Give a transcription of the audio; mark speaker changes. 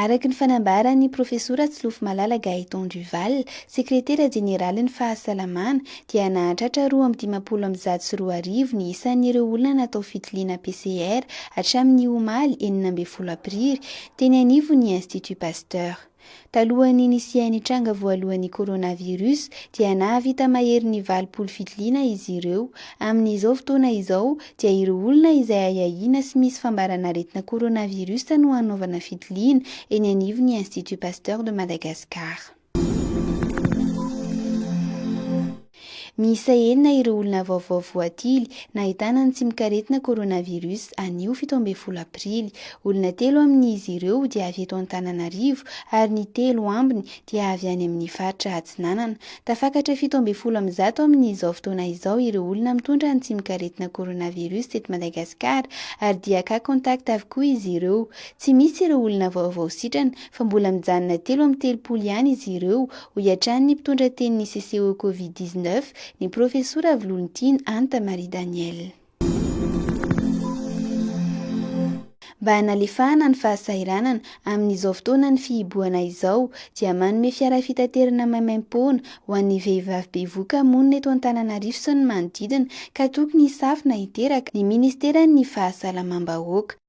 Speaker 1: Araka ny fanambaran'ny Profesora Tsilofomalala Gaëtan Duval, Sekretera Jeneralin'ny Fahasalamana, dia nahatratra roa amby dimampolo amby zato sy roa arivo ny isan'ireo olona natao fitiliana PCR hatramin'ny omaly enina ambin'ny folo aprily, teny anivon'ny Institut Pasteur. Talohan'ny nisian'ny tranga voalohan'ny coronavirus dia nahavita mahery ny valopolo fitiliana izy ireo. Amin'izao fotoana izao dia ireo olona izay ahiahiana sy misy fambaran'aretina coronavirus no hanaovana fitiliana eny anivon'ny Institut Pasteur de Madagascar. Miisa enina ireo olona vaovao voatily nahitana ny tsimok'aretina coronavirus anio fito ambin'ny folo aprily. Olona telo amin'izy ireo dia avy eto Antananarivo ary ny telo ambiny dia avy any amin'ny faritra Atsinanana. Tafakatra fito ambin'ny folo amin'ny zato amin'izao fotoana izao ireo olona mitondra ny tsimok'aretina coronavirus teto Madagasikara ary dia cas contact avokoa izy ireo. Tsy misy ireo olona vaovao sitrana. fa mbola mijanona telo amin'ny telopolo ihany izy ireo, hoy hatrany ny mpitondra tenin'ny CCO Covid dix neuf, ny Profesora Avolontiana Anta Marie Danielle. Mba hanalefahana ny fahasahiranana, amin'izao fotoanan'ny fihibohana izao, dia manome fiara fitaterana maimaim-poana ho an'ny vehivavy bevoka monina eto Antananarivo sy ny manodidina ka tokony hisafo na hiteraka, ny Ministeran'ny Fahasalamam-bahoaka.